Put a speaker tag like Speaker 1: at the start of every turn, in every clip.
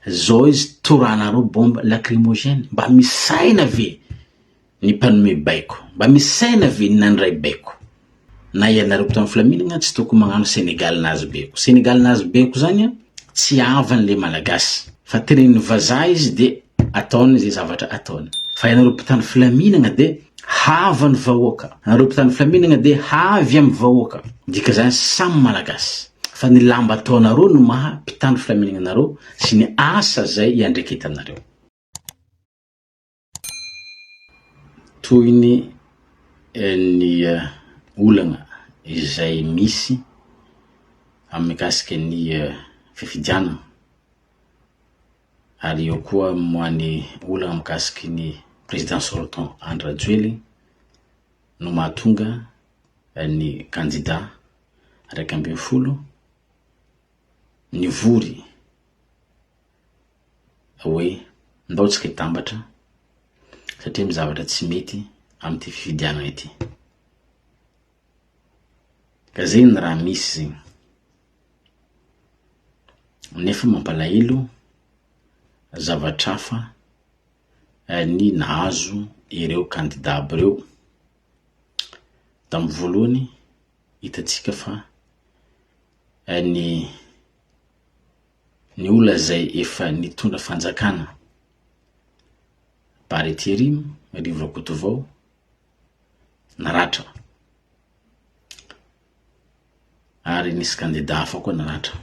Speaker 1: Zao izy toranareo bombe lacrymogène mba misaina ve ny mpanome baiko? Mba misaina ve ny nandray baiko? Na ianareo mpitandro filaminagna tsy tokony magnano Senegal nazy baiko. Senegal nazy baiko zany an tsy havany le malagasy fa tenenin'ny vazaha izy de ataony ze zavatra ataony. Fa ianareo mpitandro filaminagna de havan'ny vahoaka. Anareo mpitandro filaminagna de havy amin'ny vahoaka. Dika zany samy malagasy. fa ny lamba ataonareo no maha mpitandro filaminana anareo sy ny asa zay iandreketanareo. Tohiny ny olana izay misy amin'ny mikasika ny fifidianana ary eo koa moany olana mikasika ny président sortant Andry Rajoelina no mahatonga ny candidat iraika ambin'ny folo, nivory hoe ndao tsika hitambatra satria misy zavatra tsy mety amin'ity fifidianana ity. Ka zegny ny raha misy zegny. Nefa mampalahelo zavatra hafa ny nahazo ireo kandida aby reo. Tamin'ny voalohany, hitantsika fa ny ny olona izay efa nitondra fanjakana, Bary Interiano, Rivo Rakotovao, naratra. Ary nisy kandida hafa koa naratra.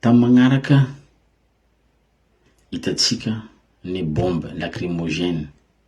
Speaker 1: Tamin'ny magnaraka, hitantsika ny bombe lacrymogène.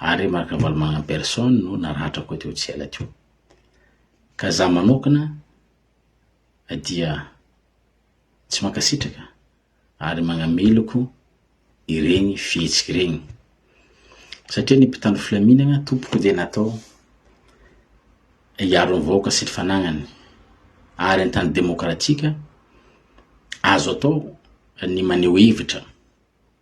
Speaker 1: ary Marc Ravalomanana en personne no naratrako teo tsy ela teo. Ka za manokana dia tsy mankasitraka ary magnameloko ireny fihetsika ireny. Satria ny mpitandro filaminagna tompoko dia natao hiaro ny vahoaka sy ny fanagnany ary an-tany demokratika azo atao ny maneho hevitra.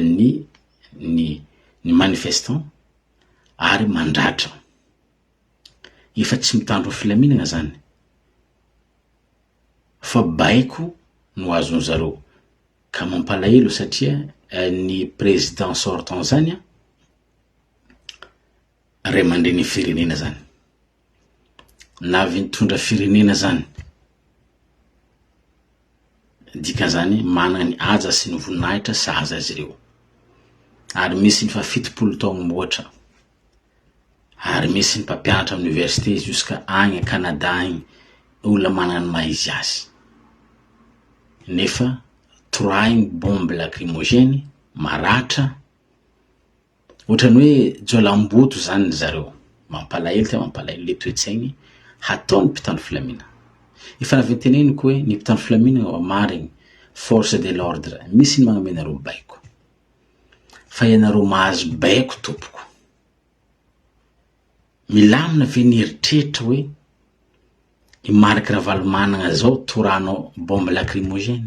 Speaker 1: ny ny ny manifestant ary mandratra. Efa tsy mitandro filaminagna zany fa baiko no azony zareo ka mampalahelo satria ny président sortant zany a ray aman-drenin'ny firenena zany. na avy nitondra firenena zany, dikan'izany manana ny haja sy ny voninahitra sahaza azy ireo, ary misy ny efa fitopolo taogno mihoatra, ary misy ny mpampianatra amin'ny université jusqu'à agny à Canada agny, olona manana ny maha izy azy, nefa torahiny bombe lacrymogène maratra, Ohatran'ny hoe jiolahim-boto izany ry zareo. Mampalahelo dia mampalahelo ilay toe-tsainy hataon'ny mpitandro filamina. Efa avy noteneniko hoe ny mpitandro filaminana efa marigny, force de l'ordre, misy ny magnome anareo baiko. Fa ianareo mahazo baiko tompoko. Milamina ve ny eritreritra hoe i Marc Ravalomanagna zao toranao bombe lacrymogène?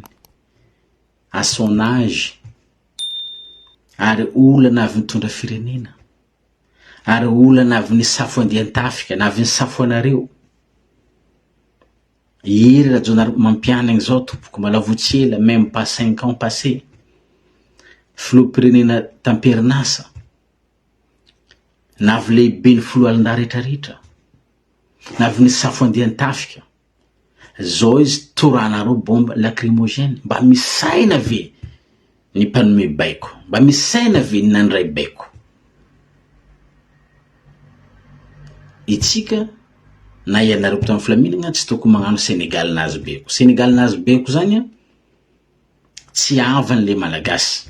Speaker 1: à son âge ary olana avy nitondra firenena ary olana avy nisafo andian-tafika na avy nisafo anareo Hery Rajaonarimampianina izao tompoko mbola vao tsy ela même pas cinq ans passé filoham-pirenena tamperin'asa na avy lehiben'ny foloalindahy rehetra rehetra na avy nisafo andian-tafika Zao izy toranareo bombe lacrymogène mba misy saina ve ny mpanome baiko? Mba misy saina ve ny nandray baiko? Itsika na ianareo mpitandro filaminagna tsy tokony magnano Sénégal nazy baiko. Sénégal nazy baiko zagny tsy havan'le malagasy.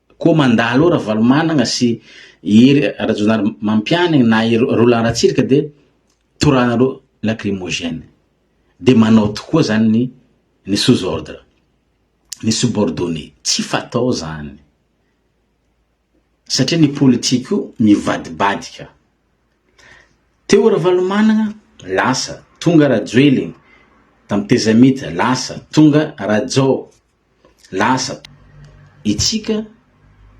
Speaker 1: Koa mandalo eo Ravalomanagna sy i Hery Rajaonarimampianina na i Roland Ratsiraka dia toranareo lacrymogène. Dia manao tokoa zany ny ny sous ordre, ny subordonné. Tsy fatao zany. Satria ny politika io mivadibadika. Teo Ravalomanagna, lasa, tonga Rajoelina, tamin'ny tezamita, lasa, tonga Rajao. Lasa. Itsika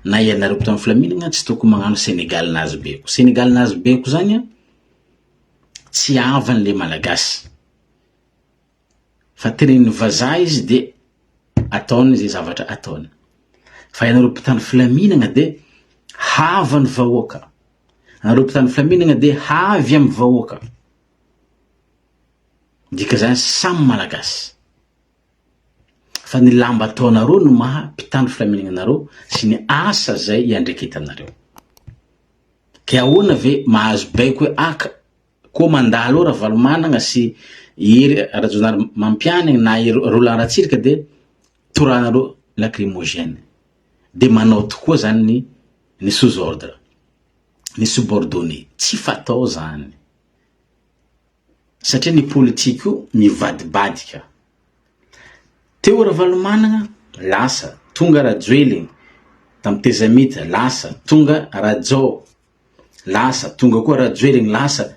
Speaker 1: na ianareo mpitondra filaminagna tsy tokony magnano Senegal nazy beko. Senegal nazy beko zany an, tsy havan le malagasy. Fa tenenin'ny vazaha izy de ataony ze zavatra ataony. Fa ianareo mpitandro filaminagna de havan'ny vahoaka. Anareo mpitandro filaminagna de havy amin'ny vahoaka. Dika zany samy malagasy. fa ny lamba ataonareo no maha mpitandro filaminana anareo sy ny asa zay iandreketanareo. Ke ahoana ve mahazo baiko hoe aka koa mandalo eo Ravalomanagna sy Hery Rajaonarimampianigny na i Roland Ratsiraka dia toranareo lacrymogène dia manao tokoa zany ny ny sous ordre, ny subordonné, tsy fatao zany. satria ny politique io mivadibadika. Teo Ravalomanana, lasa, tonga Rajoelina, tamin'ny Tezamita, lasa, tonga Rajao, lasa, tonga koa Rajoelina, lasa,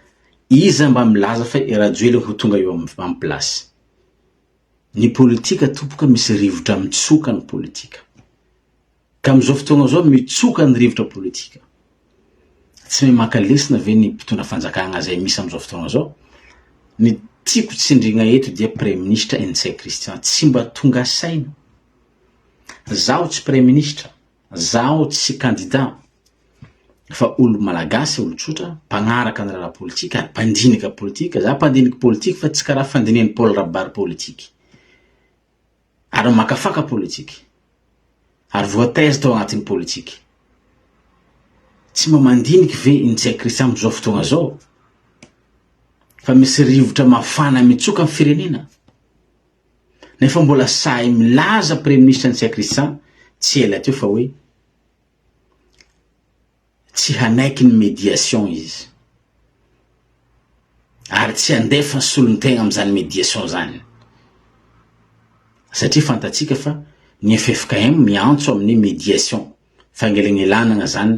Speaker 1: iza mba milaza fa i Rajoelina ho tonga eo amin'ny place? Ny politika tompoko misy rivotra mitsoka ny politika. Ka amin'izao fotoagna izao mitsoka ny rivotra politika. Tsy mahay maka lesona ve ny mpitondra fanjakagna izay misy amin'izao fotoagna izao? Ny tiako tsindrigna eto dia Praiminisitra Ntsay Christian tsy mba tonga saina. Zaho tsy Praiminisitra, zaho tsy kandida fa olo Malagasy olo tsotra, mpagnaraka ny raharaha politika ary mpandinika politika, za mpandiniky politika fa tsy karaha fandinihan'i Paul Rabary politika. ary maka faka politika, ary voataiza tao anatin'ny politika. Tsy mba mandinika ve i Ntsay Christian amin'izao fotoana izao fa misy rivotra mafana mitsoka ny firenena? Nefa mbola sahy milaza Praiministra Ntsay Christian tsy ela teo fa hoe Tsy hanaiky ny médiation izy ary tsy handefa ny solontegna amin'izany médiation izany satria fantatsika fa ny ffkm miantso amin'ny médiation fangelegnelanagna izany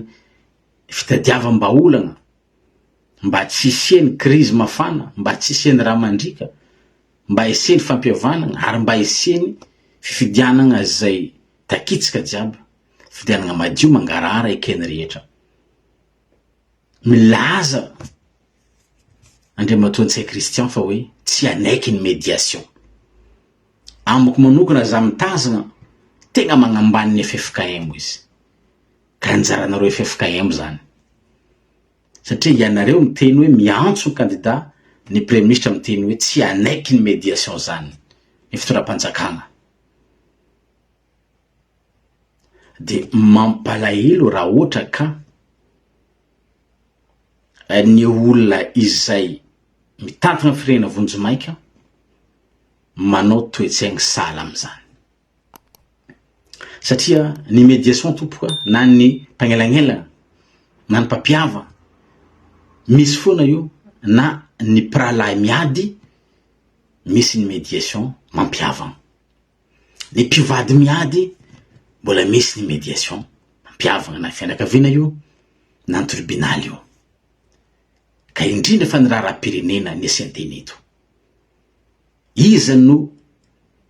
Speaker 1: fitadiavam-bahaolagna mba tsy hisian'ny crise mafana, mba tsy hisian'ny rà mandriaka, mba hisian'ny fampihavanagna ary mba hisian'ny fifidianagna izay takitsika jiaby. Fidianana madio mangarahara eken'ny rehetra. Milaza Andriamatoa Ntsay Christian fa hoe tsy hanaiky ny médiation. Amiko manokana raha izaho mitazana, tegna magnambany ny ffkm izy. Ka anjaranareo ffkm izany. Satria ianareo miteny hoe miantso ny kandida, ny praiminisitra miteny hoe tsy hanaiky ny médiation izany ny fitondram-panjakana. de mampalahelo raha ohatra ka ny olona izay mitantana ny firenena vonjimaika manao toe-tsaigny sahala amin'izany. Satria ny mediation tompoko a, na ny mpagnelagnelagna, na ny mpampiava, misy foana io na ny mpirahalahy miady misy ny mediation mampihavagna. Ny mpivady miady mbola misy ny médiation mampiavana na fianakaviana io na ny tribunaly io. Ka indrindra fa ny raharaham-pirenena ny asian-teny eto. Iza no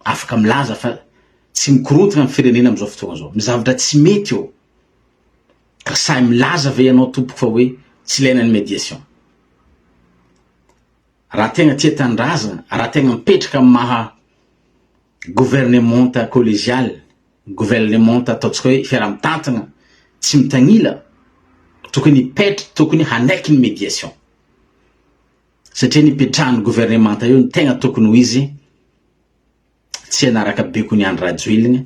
Speaker 1: afaka milaza fa tsy mikorontana ny firenena amin'izao fotoana izao? Ny zavatra tsy mety eo. Ka sahy milaza ve ianao tompoko fa hoe tsy ilaina ny médiation? Raha tegna tia tanindrazana, raha tegna mipetraka amin'ny maha governemanta collegial, governemanta ataontsika hoe fiaraha-mitantana tsy mitanila, tokony hipetra, tokony hanaiky ny médiation. Satria ny ipetrahan'ny governemanta eo no tegna tokony ho izy tsy hanaraka bekony Andry Rajoelina,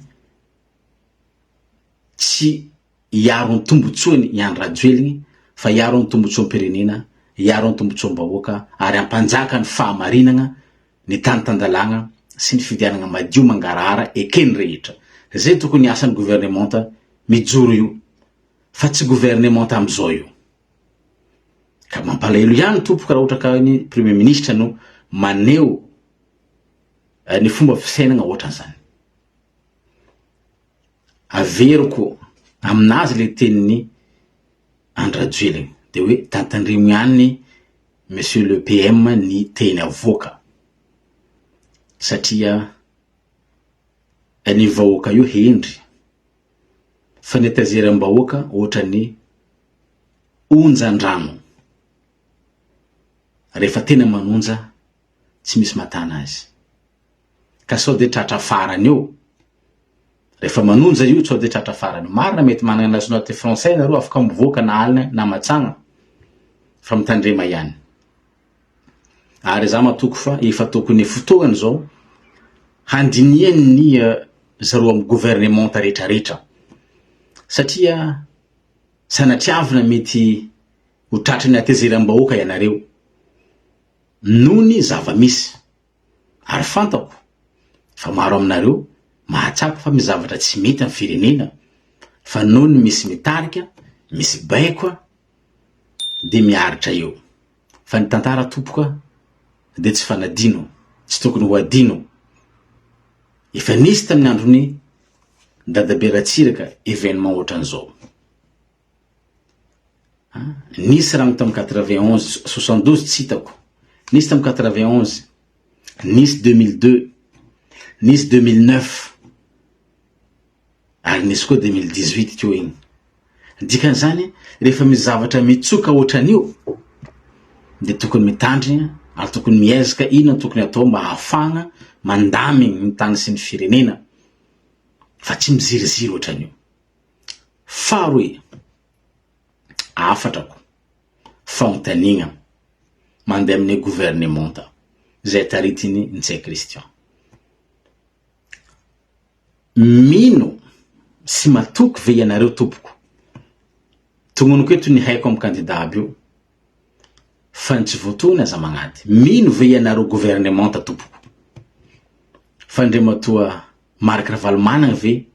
Speaker 1: tsy hiaro ny tombotsoany i Andry Rajoeliny fa hiaro ny tombotsoam-pirenena, hiaro ny tombotsoam-bahoaka ary hampanjaka ny fahamarinagna, ny tany tan-dalàgna sy ny fividianagna madio mangarahara eken'ny rehetra. Zay tokony asan'ny governemanta mijoro io fa tsy governemanta amizao io. Ka mampalahelo ihany tompoko raha ohatra ka ny premier ministra no maneho ny fomba fisainagna ohatran'izany. averiko aminazy le tenin'i Andrajoelina de hoe tantandremo ihany Monsieur le PM ny teny avoaka satria ny vahoaka io hendry fa ny tazeram-bahoaka ohatran'ny onjan-drano rehefa tena manonja tsy misy matana azy. Ka sao dia tratra farany eo. Rehefa manonja io sao dia tratra farany. Marina mety manana nationalité français nareo afaka mivoaka na alina na matsagna fa mitandrema ihany. Ary za matoky fa efa tokony fotoana zao handinihan'ny eh, zareo amin'ny gouvernementa retraretra satria sanatriavina mety ho tratry ny hatezeram-bahoaka ianareo. noho ny zava-misy. Ary fantako fa maro aminareo mahatsapa fa misy zavatra tsy mety amin'ny firenena, fa noho ny misy mitarika, misy baiko dia miaritra eo. Fa ny tantara tompoko dia tsy fanadino, tsy tokony ho adino. Efa nisy tamin'ny andron'i Dadabe Ratsiraka événement ohatran'izao. Nisy rano tam quatre vingt onze, soixante douze tsy hitako, nisy tam quatre vingt onze, nisy deux mille deux, nisy deux mille neuf, ary nisy koa deux mille dix huit teo iny. Ny dikan'izany, rehefa misy zavatra mitsoka ohatran'io dia tokony mitandrina ary tokony miezaka inona no tokony atao mba hahafahana mandamigny ny tany sy ny firenena fa tsy miziriziry ohatran'io. Faharoa e! Hafatrako, fanontaniana mandeha amin'ny governemanta izay taritin'i Ntsay Christian. Mino sy matoky ve ianareo tompoko, tononiko eto ny haiko amin'ny kandida aby io, fa ny tsy voatohina aza magnady. Mino ve ianareo governemanta tompoko, fa Andriamatoa Marc Ravalomanana ve,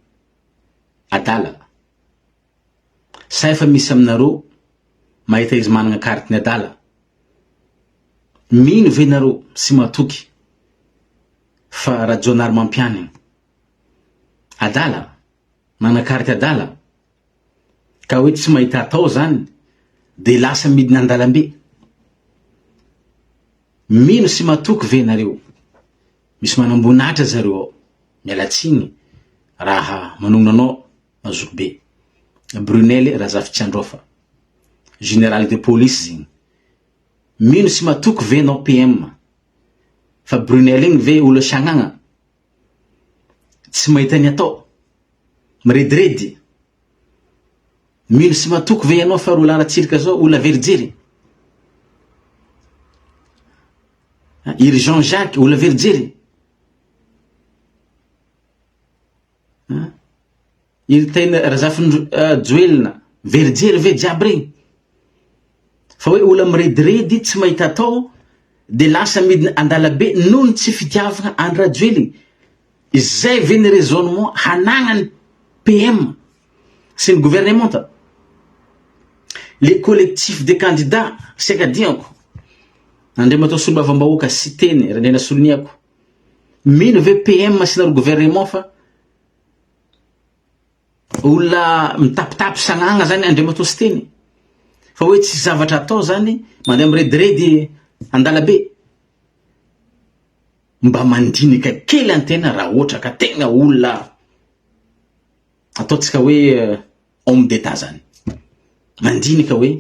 Speaker 1: adala. Sa efa misy aminareo mahita izy managna carte ny adala? Mino ve nareo sy matoky fa Rajaonarimampianina adala? Managna carte adala? Ka hoe tsy mahita atao zany de lasa midina andalambe? Mino sy matoky ve nareo Misy manamboninahitra zareo ao. Miala tsiny raha manongona anao na zokibe. Brunelle Razafitsiandrofa. Général de police zegny. Mino sy matoky ve anao PM? Fa Brunelle igny ve olo sagnagna? Tsy mahita ny atao? Mirediredy? Mino sy matoky ve ianao fa Rolland Ratsiraka zao olo averijery? I ry Jean Jacques olona very jery. I ry Taina Razafinjoelina euh, very jery ve jiaby regny. Fa hoe olona mirediredy tsy mahita atao de lasa midina andalabe noho ny tsy fitiavana Andry Rajoelina. Izay ve ny raisonnement hanagnany PM? sy ny governemanta, le collectif des candidats sy Akadiako, Andriamatoa Solombavambahoaka Siteny Randrianasoloniako, mino ve PM sy nareo governemant fa olona mitapitapy sagnagna zany Andriamatoa Siteny? Fa hoe tsisy zavatra atao zany, mandeha mirediredy andalabe? Mba mandinika kely an-tena raha ohatra ka tegna olona. ataontsika hoe homme d'Etat zany. Mandinika hoe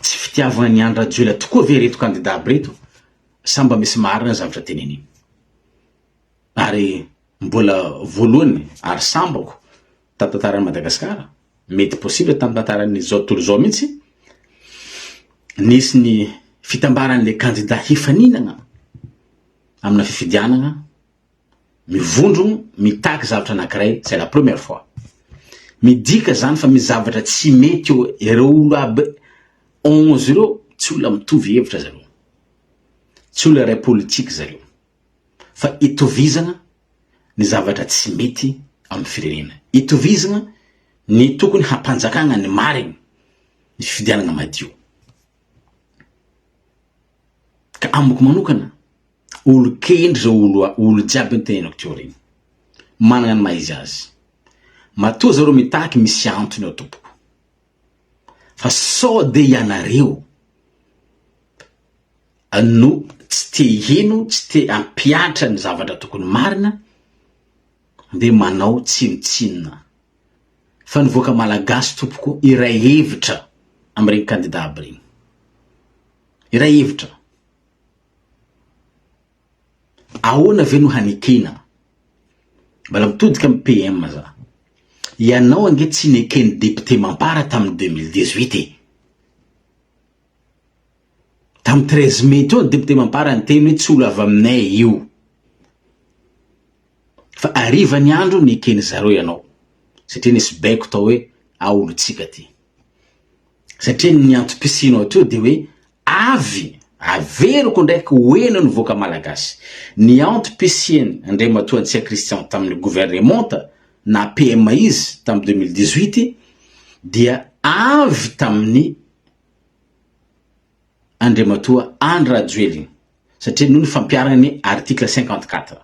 Speaker 1: tsy fitiavana an'i Andry Rajoelina tokoa ve ireto kandida aby ireto sa mba misy marina ny zavatra teneniny. Ary mbola voalohany ary sambako tamin'ny tantaran'i Madagasikara, mety possible tamin'ny tantaran'izao tontolo izao mihitsy, nisy ny fitambaran'ilay kandida hifaninana amina fifidianana Mivondrogno mitaky zavatra anakiray c'est la première fois. Midika zany fa misy zavatra tsy mety eo ireo olo aby onze ireo tsy olona mitovy hevitra zareo. Tsy olona iray politique zareo. Fa itovizagna ny zavatra tsy mety amin'ny firenena. Itovizagna ny tokony hampanjakagna ny marigny ny fifidianagna madio. Ka amiko manokana. olon-kendry zao olo olo jiaby io nitenenako teo aoriana. Manana ny maha izy azy. Matoa zareo mitaky misy antony ao tompoko. Fa sao dia ianareo no tsy te hino, tsy te hampiatra ny zavatra tokony marina dia manao tsinontsinona. Fa ny vahoaka malagasy tompoko iray hevitra amin'ireny kandida aby ireny. Iray hevitra. Ahoana ve no hanekena? Mbola mitodika amin'ny PM za. Ianao ange tsy neken'ny député mampara tamin'ny deux mille dix huit e! Tamin'ny treize mai teo ny député mampara niteny hoe tsy olo avy aminay io. Fa hariva ny andro neken'i zareo ianao satria nisy baiko tao hoe ao olotsika ty. satria ny antom-pisianao hatreto dia hoe avy, averiko indraiky ho eny ny voaka malagasy, ny antom-pisiany Andriamatoa Antsia Christian tamin'ny governemanta naha PM izy tamin'ny 2018 dia avy tamin'ny Andriamatoa Andry Rajoelina satria noho ny fampiharany ny article 54.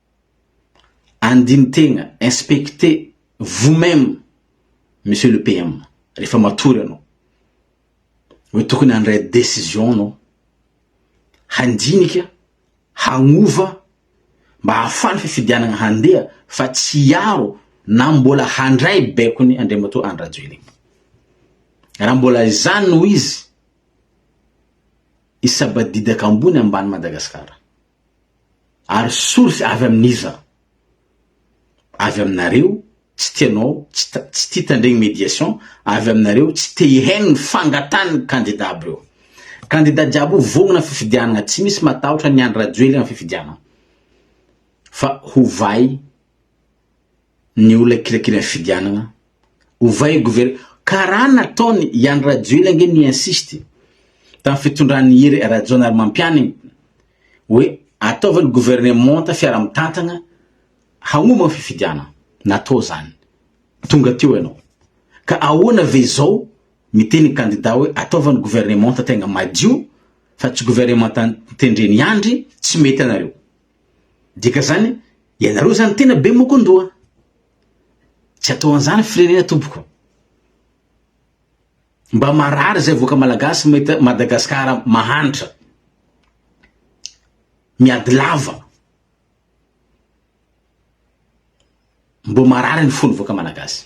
Speaker 1: Andini-tegna, inspectez vous même monsieur le PM rehefa matory anao hoe tokony handray décision anao, handinika, hagnova mba hahafahan'ny fifidianagna handeha fa tsy hiaro na mbola handray baikony Andriamatoa Andry Rajoelina. Raha mbola izany no izy, hisabadidaka ambony ambany Madagasikara. Ary source avy amin'iza? Avy aminareo tsy tia anao, tsy tia tandregny mediation, avy aminareo tsy te hihaino ny fangatahan'ny candidat aby reo. Candidat jiaby io vognona fifidianagna, tsy misy matahotra an'i Andry Rajoely am fifidianagna fa hovay. ny olona kirakira fifidianana ovay gover karaha nataony iany rajoely ange ni insiste tam fitondran hery rajaonarimampianigny oe ataova ny governemanta fiara mitantagna hagnomba ny fifidianana natao zany tonga teo ianao ka ahoana ve zao miteny kandida oe ataova ny governemanta tegna madio fa tsy governemanta tendreny andry tsy mety anareo Dikan'izany, ianareo izany tena be mokon-doha. Tsy atao an'izany firenena tompoko. Mba marary izay voaka malagasy mahita Madagasikara mahantra. Miady lava. Mbo marary ny fony voaka malagasy.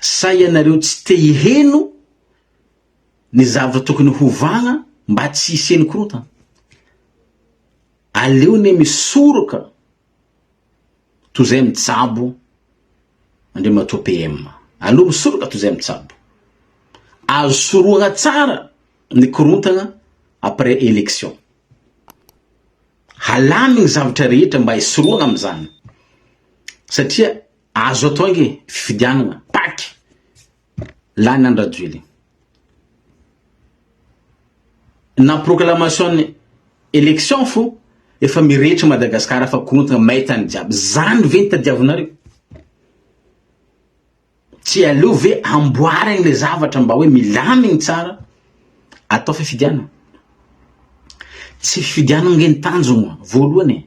Speaker 1: Sa ianareo tsy te hiheno ny zavatra tokony hovahana mba tsy hisian'ny korontana? Aleo anie misoroka toy izay mitsabo Andriamatoa PM. Aleo misoroka toy izay mitsabo. Azo sorohana tsara ny korontana après élection. Halamy ny zavatra rehetra mba hisorohana amin'izany satria Azo atao ange fifidianana paky lany any Rajoelina. Na proclamation élection fo efa mirehitra Madagascar fa korontana maitany jiaby. Zany ve ny tadiavinareo? Tsy aleo ve amboarigny le zavatra mba hoe milamigny tsara atao fifidianana. Tsy fifidianana ange ny tanjogna voalohany e.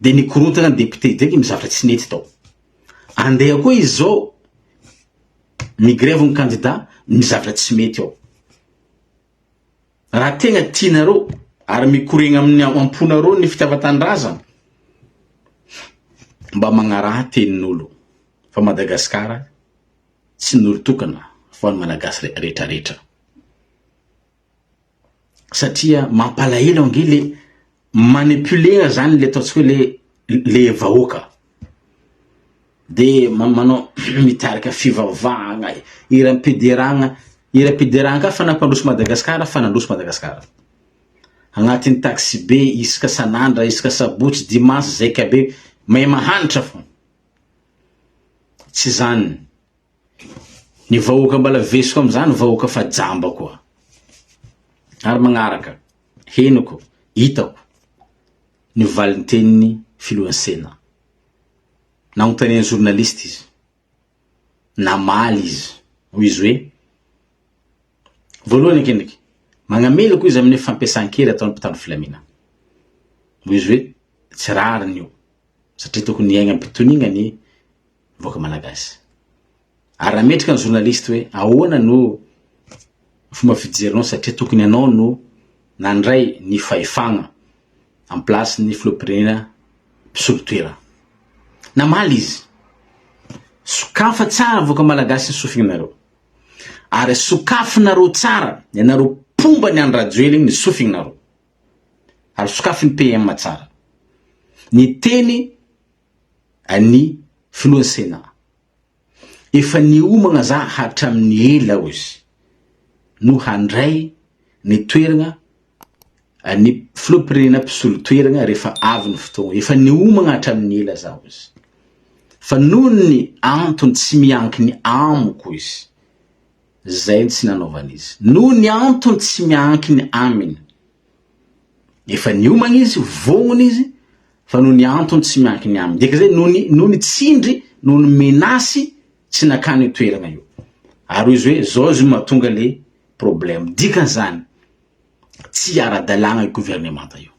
Speaker 1: Dia nikorontana ny député Dieny ny zavatra tsy nety tao. Andeha koa izy izao mi-grève ny candidat ny zavatra tsy mety ao. Raha tegna tianareo ary mikoregna amin'ny amponareo ny fitiavan-tanindrazana, mba magnaraha tenin'olo fa Madagascar tsy ny olo tokana fa ny Malagasy retraretra. satria mampalahelo ange le manipuler zany le ataontsika hoe le le vahoaka de manao mitarika fivavahagna, hiram-pideragna, hiram-pideragna ka fa nampandroso Madagasikara fa nandroso Madagasikara. Agnatin'ny taxibe isaka san'andra, isaka sabotsy, dimanche, zaika be, mahay mahantra fô. Tsy zany. Ny vahoaka mbala vesiko amin'izany vahoaka fa jamba koa. Ary magnaraka, henoko, hitako, ny valintenin'ny filohan'ny Sénat. Nagnontanian'ny journaliste izy, namaly izy, hoy izy hoe, voalohany ankendriky, magnamela koa izy amin'ny fampiasan-kery ataon'ny mpitandro filaminana. Hoy izy hoe, tsy rariny io, satria tokony hiainga am-pitoniana ny vahoaka malagasy. Ary raha mendrika ny journaliste hoe ahoana no fomba fijerinao satria tokony ianao no nandray ny fahefagna en place ny filoham-pirenena mpisolo toerana. Namaly izy. Sokafa tsara vahoaka malagasy ny sofinareo. Ary sokafinareo tsara ianareo mpomba ny an-dRajoelina ny sofinareo. Ary sokafy ny PM tsara. Ny teny an'ny filohan'ny Sénat. Efa niomagna za hatramin'ny ela hoy izy no handray ny toeragna an'ny filoham-pirenena mpisolo toeragna rehefa avy ny fotoagna. Efa niomagna hatramin'ny ela za hoy izy. Fa noho ny antony tsy miankiny amiko hoy izy. Zay ny tsy nanaovany izy. Noho ny antony tsy miankiny aminy. Efa niomagna izy, vognona izy, fa noho ny antony tsy miankiny aminy, dia kizay noho ny noho ny tsindry, noho ny menace tsy nakany io toerana io. Ary hoy izy hoe zao izy io mahatonga le problème. Dikan'izany, tsy ara-dalàna io governemanta io.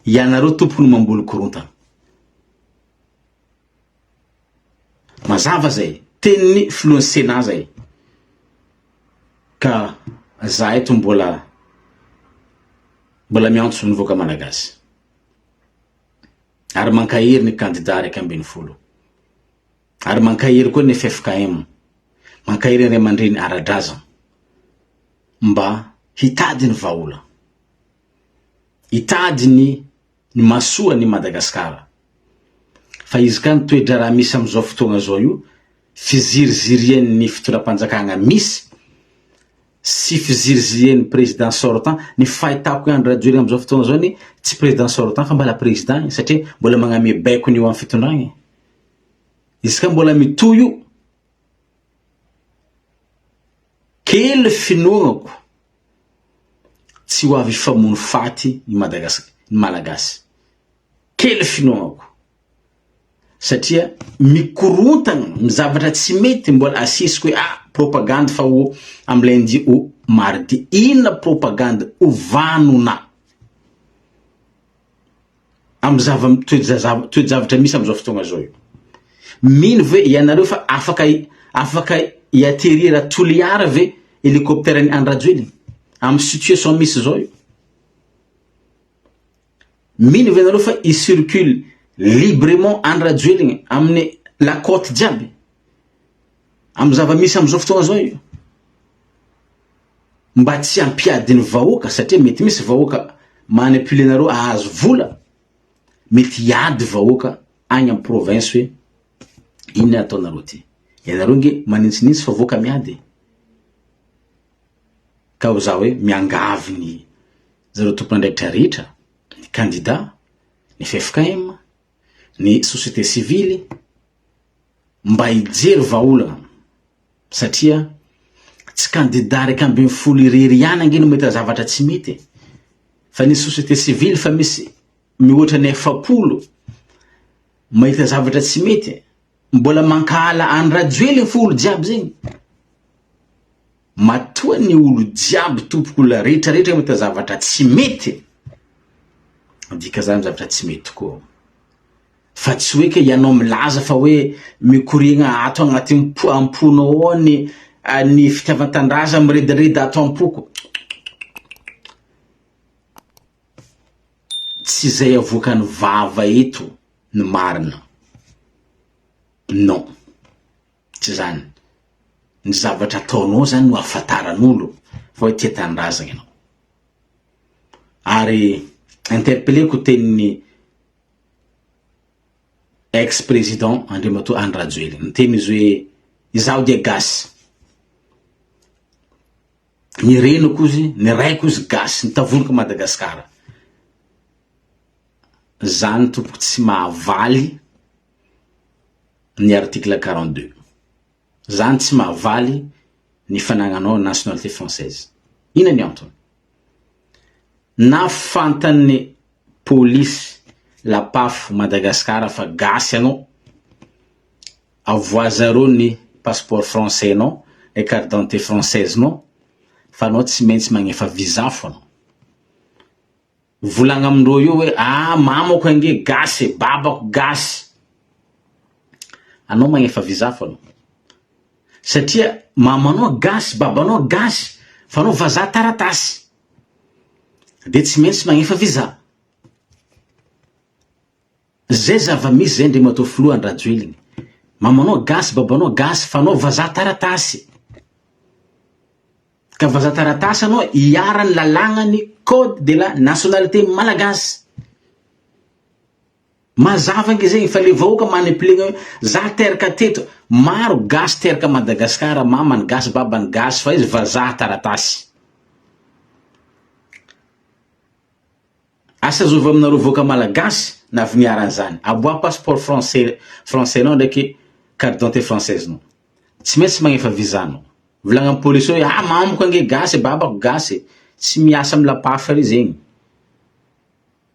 Speaker 1: Ianareo tompoko no mamboly korontana. Mazava zay, tenin'ny filohan'ny Sénat zay. Ka za eto mbola mbola miantso ny vahoaka malagasy. ary mankahery ny kandida iraika ambin'ny folo, ary mankahery koa ny ffkm, mankahery ny ray aman-dreny ara-drazana mba hitady ny vahaolana, hitady ny ny mahasoa an'i Madagasikara. Fa izy ka ny toe-draharaha misy amin'izao fotoana izao io, fizirizirian'ny fitondram-panjakana misy, sy fiziriziren'ny président sortant, ny fahitako i Andry Rajoelina amin'izao fotoana izao anie tsy président sortant fa mbala président e, satria mbola magname baikony eo amin'ny fitondrana e. Izy ka mbola mitohy io, kely finoanako tsy ho avy hifamono faty ny Madagascar, ny Malagasy, kely finoanako. satria mikorontana ny zavatra tsy mety mbola asisiko hoe ah propagandy fa ho am lundi ou mardi inona propagandy ho vanona am zava toe-javatra misy amizao fotoagna zao io mino ve ianareo fa afaka afaka i aterira toliara ve helicoptera ny andrajoelina am situation misy zao io Mino ve nareo fa i circule librement any Rajoelina aminy la cote jiaby? Am zava misy am zao fotoana zao io? Mba tsy ampiadiny vahoaka satria mety misy vahoaka manipule nareo ahazo vola, mety hiady vahoaka agny am province hoe inona ataonareo ty? Ianareo nge manintsinitsy fa voaka miady e! Ka ho za hoe miangavy ny Zareo tompandraikitra rehetra, ny kandida, ny ffkm, ny société civile mba hijery vahaolana satria tsy kandida iraika ambin'ny folo irery ihany ange no mahita zavatra tsy mety e! fa ny société civile fa misy mihoatra ny efapolo mahita zavatra tsy mety e! Mbola mankahala any rajoely ny folo jiaby zegny. Matoa ny olo jiaby tompoko la rehetra rehetra mita zavatra tsy mety dika zany zavatra tsy mety tokoa fa tsy hoe ke ianao milaza fa hoe mikoriagna ato agnaty po amponao ao ny ny fitiavantandraza miredareda ato ampoko tsy zay avoakan'ny vava eto ny marina. Non, tsy zany, ny zavatra ataonao zany no ahafantaran'olo fa hoe tia tanindrazagna ianao. Ary interpelleko tenin'ny ex président Andriamatoa Andry Rajoelina, niteny izy hoe izaho dia gasy, ny reniko izy, ny raiko izy gasy, nitavoniko Madagasikara. Zany tompoko tsy mahavaly ny article quarante deux. Zany tsy mahavaly ny fanagnanao nationalité française. Ina ny antony? Na fantan'ny polisy lapafo Madagascar fa gasy anao, avoazareo ny passeport français nao, le carte d'identité française nao fa anao tsy maintsy magnefa visa fona. Mivolagna amindreo eo hoe aah mamako ange gasy e, babako gasy. Anao magnefa visa fô anao. Satria mamanao gasy, babanao gasy, fa anao vazaha taratasy. Dia tsy maintsy magnefa visa. Zay zava-misy zay Andriamatoa Filoha Andrajoeligny. Mamanao gasy, babanao gasy, fa anao vazaha taratasy. Ka vaza taratasy anao iharan'ny lalagnan'ny code de la nationalité malagasy. Mazava ange zegny fa le vahoaka maniplegna hoe za teraka teto, maro gasy teraka à Madagascar, mamany gasy, babany gasy fa izy vazaha taratasy. Asa zovy aminareo vahoaka malagasy na viniarana zany. Aboaha passeport français français nao ndraiky carte d'identité française nao. Tsy maintsy magnefa visa nao. Volagna am police ao hoe ah mamako ange gasy babako gasy. Tsy miasa am lapafy re zegny.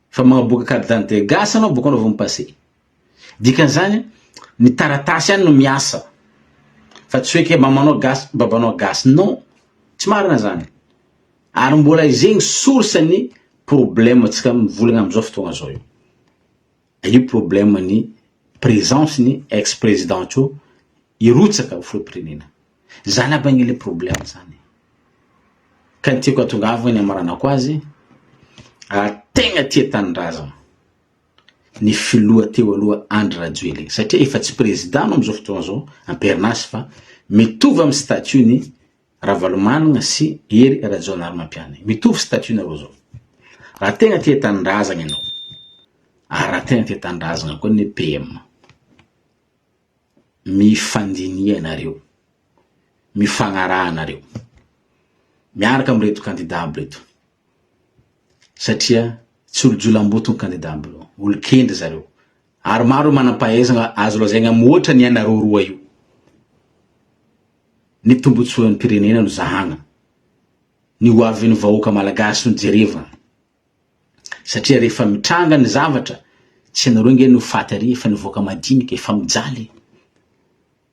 Speaker 1: Fa magnaboaka carte d'identité gasy anao bôka anao vao mi passer. Dikan'izany ny taratasy ihany no miasa fa tsy hoe ke mamanao gasy babanao gasy non, tsy marina zany ary mbola izegny source ny problème tsika mivolagna amzao fotoagna zao io io problème ny présence ny ex président tso hirotsaka ho filoham-pirenena zany aby anie le problème zany ka ny tiako atongavagny hamaranako azy ary tegna tia tanindrazagna. ny filoha teo aloha Andry Rajoelina satria efa tsy président anao amin'izao fotoana izao am-perinasa fa mitovy amin'ny statut ny Ravalomanana sy Hery Rajaonarimampianina mitovy statut nareo izao raha tegna tia tanindrazagna ianao ary raha tegna tia tanindrazagna koa ny PM mifandiniha nareo mifagnaraha nareo miaraka amin'ireto kandida aby ireto satria tsy olo-jolamboto ny kandida ambiny eo, olon-kendry zareo ary maro ireo manam-pahaizana azo lazaina mihoatra ny anareo roa io. Ny tombotsoan'ny mpirenena no zahana, ny ho avin'ny vahoaka malagasy no jerevana satria rehefa mitranga ny zavatra tsy ianareo nge no faty ary fa ny vahoaka madinika efa mijaly e!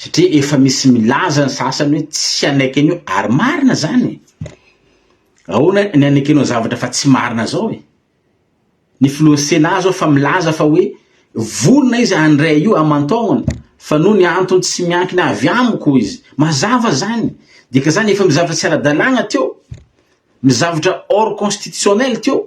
Speaker 1: satria efa misy milaza ny sasany hoe tsy hanaiky an'io ary marina zany e, ahoana ny hanaikenao zavatra fa tsy marina zao e, ny filohan'ny Sénat zao efa milaza fa hoe vonona izy handray io aman-taonany fa noho ny antony tsy miankina avy amiko hoy izy, mazava zany, dika zany efa misy zavatra tsy ara-dalàna teo, misy zavatra hors constitutionnel teo.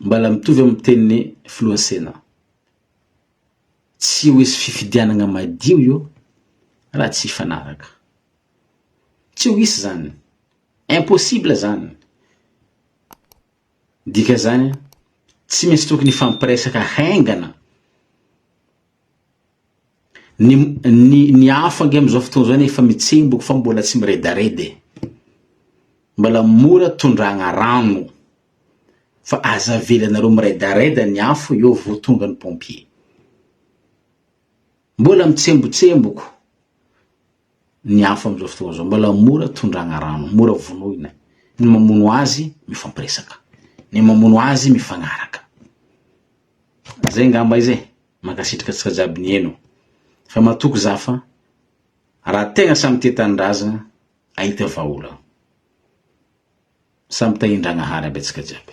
Speaker 1: Mbala mitovy amin'ny tenin'ny filoha Sénat. Tsy ho hisy fifidianagna madio io raha tsy hifanaraka. Tsy ho hisy zany. Impossible zany. Dika zany, tsy maintsy tokony hifampiresaka haingana. Ny ny ny afo ange amin'izao fotoana izao anie efa mitsemboka fa mbola tsy miredareda e. Mbola mora tondrahagna rano fa aza avelanareo miredareda ny afo eo vao tonga ny pompier. Mbola mitsembotsemboko ny afo amin'izao fotoana izao, mbola mora tondrahagna rano, mora vonoina. Ny mamono azy mifampiresaka, ny mamono azy mifagnaraka. Zay ngamba izy e! Mankasitraka antsika jiaby nihaino. Fa matoky za fa raha tegna samy tia tanindrazagna ahita vahaolagna. Samy tahiandragnahary aby antsika jiaby.